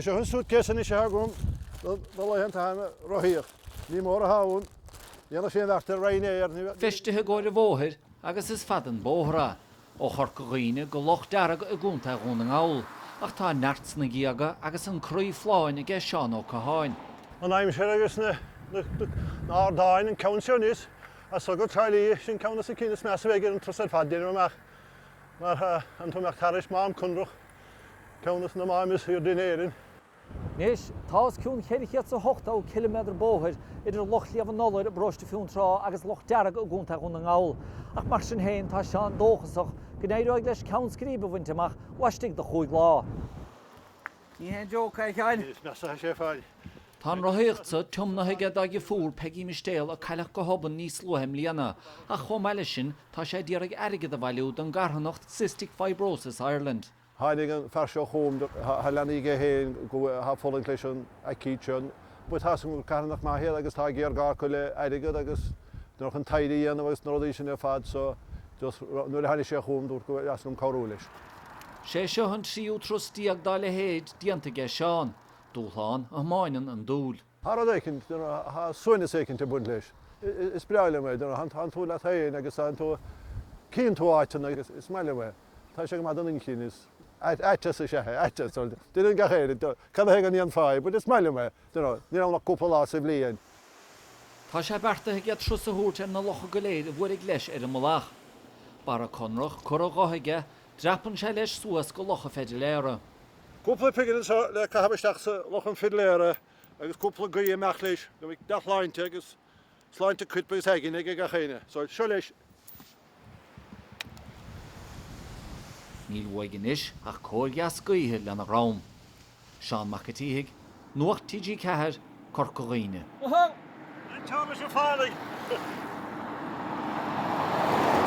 Tá seo an suitcase anois atá agam do na laethanta ag rothaíocht. Ní mór a shábháil. Dhéanfadh sé an bheart ar Ryanair, ní. Feistithe i gcomhair an bhóthair agus is fada an bóthar ó Chorca Dhuibhne go Loch Dearg i gContae Dhún na nGall, ach tá an neart sna géaga agus an croí folláin aige Seán Ó Catháin. An aimsir agus na hardáin an ceann seo aníos as Sochraid Charlie, sin ceann dos na cinn is measa a bheidh ar an turas ar fad deirim amach mar tá an t-am ag tarraingt Mám Conrach. ceann dos na máim is aoirde in Éirinn. Anois tá os cionn 480 ciliméadar bóthair idir Loch Shliabh an Iolair i bparóiste Fionntrá agus Loch Dearg i gContae Dhún na nGall, ach mar sin féin tá Seán dóchasach go n-éireoidh leis ceann scríbe a bhaint amach laistigh de chúig lá. Ní haon joke é, a Sheáin! Is measa a Sheáin. Tá an rothaíocht seo tiomnaithe aige dá dheirfiúr Peggy Mistéal a cailleadh go hobann níos luaithe i mbliana ach chomh maith leis sin tá sé ag iarraidh airgead a bhailiú don gcarthanacht Cystic Fibrosis Ireland. Tháinig an fear seo chugam, tá leanaí aige féin ag fulaingt leis an aicíd seo, but tá an carthanacht maith agus tá géarghá acu le airgead agus chun taighde a dhéanamh agus na rudaí sin ar fad so just nuair a tháinig sé chugam dúrt gurbh áthas liom cabhrú leis. Sé seo an tríú turas déag dá leithéid déanta aige Seán. Dúshlán a thiomáineann an dúil. Tá rud éicint, tá suaimhneas éicint ag baint leis. Is breá liom é, tá tú leat féin agus tá tú, cíonn tú áiteanna agus is maith liom é. Tá sé go maith don inchinn, is aiteas is ea é, aiteas. Deireann gach éinne, cad é go ndéanfá é, but is maith liom é, ní raibh ach cúpla lá sa bhliain. Tá sé beartaithe aige turas a thabhairt ar na locha go léir a bhuailfidh leis ar an mbealach. Barra Conrach curtha dhe aige, dreapann sé leis suas go Loch an Pheidléara. Cúpla pingin anseo le caitheamh isteach sa Loch an Pheidléara agus cúpla guí amach leis go mbeidh dea-shláinte agus sláinte coirp agus aigne ag gach éinne. So, seo leis. Níl uaidh anois ach cóir dheas gaoithe lena dhroim. Seán Mac an tSíthigh, Nuacht TG4, Corca Dhuibhne. An teorainn sin fallaí.